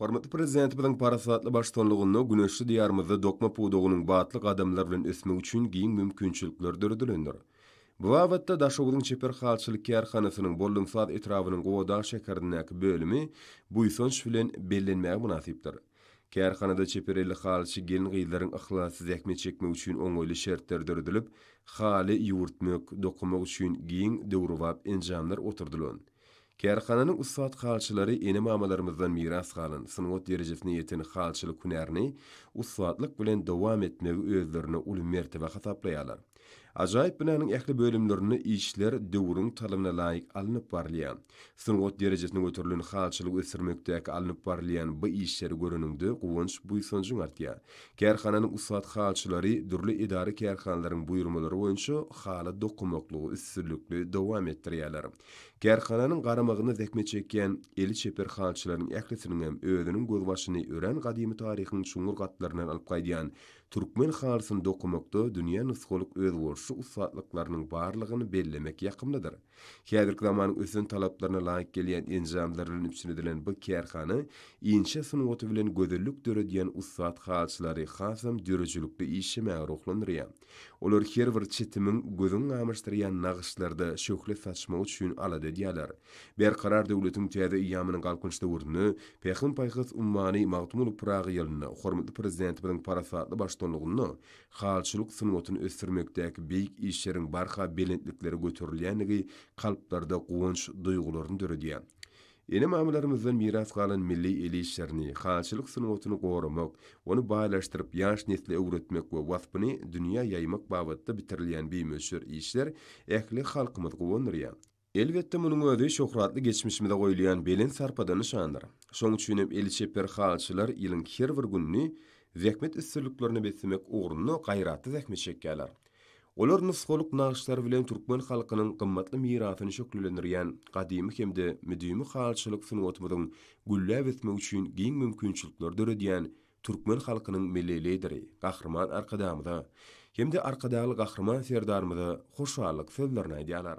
Hormatly Prezidentimiziň parasatly baştutanlygynda güneşli Diýarymyzda dokma pudagynyň batly gadamlar bilen ösmegi üçin giň mümkinçilikler döredilendir. Bu babatda Daşoguzyň çeper halçylyk kärhanasynyň Boldumsaz etrabynyň Gowadag şäherindäki bölümi buýsanç bilen bellenmäge mynasypdyr. Kärhanada çeper elli halyçy gelin-gyzlaryň yhlasly zähmet çekmegi üçin oňaýly şertler döredilip, haly ýüwürtmek, dokamak üçin giň döwrebap enjamlar oturdylan. Kärhananyň ussat halçylary ene-mamalarymyzdan miras galan sungat derejesine ýeten halçylyk hünärini ussatlyk bilen dowam etmegi özlerine uly mertebe hasaplaýarlar. Ajaýyp binanyň ähli bölümlerinde işler döwrüň talabyna laýyk alnyp barylýar. Sungat derejesine göterilen halçylygy ösdürmekdäki alnyp barylýan bu işleri göreniňde guwanç-buýsanjyň artýar. Kärhananyň ussat halçylary dürli edara-kärhanalaryň buýurmalary boýunça haly dokamaklygy üstünlikli dowam etdirýärler. Kärhananyň garamagynda zähmet çekýän eli çeper halçylaryň ählisiniňem özüniň gözbaşyny örän gadymy taryhyň çuňňur gatlaryndan alyp gaýdýan türkmen halysyny dokamakda dünýä nusgalyk özboluşly ussatlyklarynyň barlygyny bellemek ýakymlydyr. Häzirki zamanyň ösen talaplaryna laýyk gelýän enjamlar bilen üpjün edilen bu kärhana inçe sungaty bilen gözellik döredýän ussat halyçylary hasam döredijilikli işlemäge ruhlandyrýar. Olar her bir çitimiň gözüňi gamaşdyrýan nagyşlarda şöhle saçmagy üçin alada edýärler. Berkarar döwletiň täze eýýamynyň Galkynyş döwründe Pähim-paýhas ummany Magtymguly Pyragy ýylynda hormatly Prezidentimiziň parasatly baştutanlygynda halyçylyk sungatyny ösdürmekdäki beýik işleriň barha belentliklere göterilýändigi kalplarda guwanç duýgularyny döredýär. Ene-mamalarymyzdan miras galan milli el işlerini, halyçylyk sungatyny goramak, ony baýlaşdyryp, ýaş nesle öwretmek we waspyny dünýä ýaýmak babatda bitirilýän bimöçber işler ähli halkymyzy guwandyrýar. Elbetde, munuň özi şöhratly geçmişimize goýulýan belent sarpadan nyşandyr. Şoň üçin hem eli çeper halyçylar ýylyň her bir gününi zähmet üstünliklerine beslemek ugrunda gaýratly zähmet çekýärler. Olar nusgalyk nagyşlary bilen türkmen halkynyň gymmatly mirasyny şöhlelendirýän gadymy hem-de müdimi halyçylyk sungatymyzyň gülläp ösmegi üçin giň mümkinçilikleri döredýän türkmen halkynyň Milli Lideri Gahryman Arkadagymyza hem-de Arkadagly Gahryman Serdarymyza hoşallyk sözlerini aýdýarlar.